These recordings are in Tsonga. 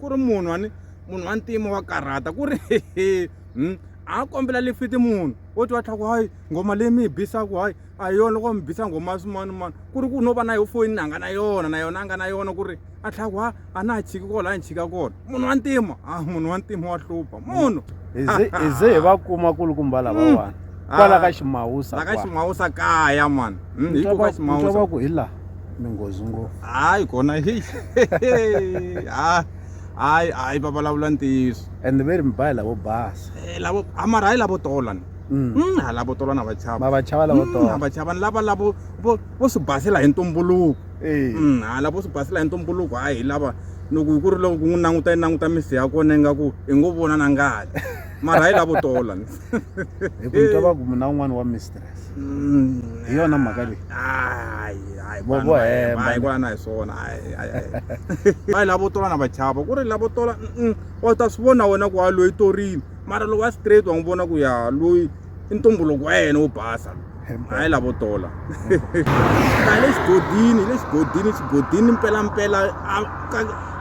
ku ri munhu wani munhu wa ntima wa karhata ku ri hmm? a kombela lifiti munhu wo ti wa tlhaku hayi nghoma leyi mi yi bisaku hayi a hi yona loko mi bisa nghoma swin'wana mani ku ri ku no va na yo foyini a nga na yona na yona a nga na yona ku ri a tlhaku ha a na ha chiki kola a ni chika kona munhu wa ntima a munhu wa ntima wa hlupha munhu hi ze hi va kuma kulukumba lavawani hmm. kwala ka ximawusa la ka ximawusa kaya mani hmm, hi ku ka ximawusa ku hi laha ni nghozi ngo hayi kona heyi ha hayi hayi va vulavula ntiyiso and ve ri mi ba hi lavo basa Eh, lavo a mara hayi lavo tolana Mm. Mm, ha lavo tolana va chava ma va chava lavo Mm, ha tona va chava ni lava lavo vo vo swi basela hi ntumbuluko Eh, Mm, ha lavo swi basela hi ntumbuluko hayi hi lava loko hi ku ri loko ku n'wi languta yi languta misi ya kona ingaku hi ngo vona na ngati mara hayi lavo tolana hi ku ni twa va ku mina un'wana wa mister hi yona mhaka leyi vo vo hemba ku na hi swona va yi lavo tola na va chava ku ri lavo tola wa ta swi vona wena ku wa loyi torini mara lowa straight wa n'wi vona ku ya loyi i ntumbuluko wa yena wo basa hayi lavo tola a le xigodini le xigodini xigodini mpelampela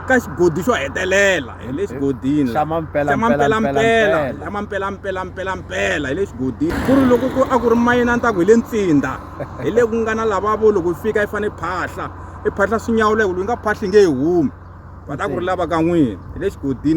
ka xigodi xo hetelela hi le xigodini xa mampela xa mampela mpela xa mampela mpela mpela mpela hi le xigodini ku ri loko ku a ku ri mayini a ni ta ku hi le ntsinda hi le ku nga na lavavo loko yi fika yi fane phahla i phahla swinyawulo yi nga phahli nge yi humi va ta ku ri lava ka n'wini hi le xigodini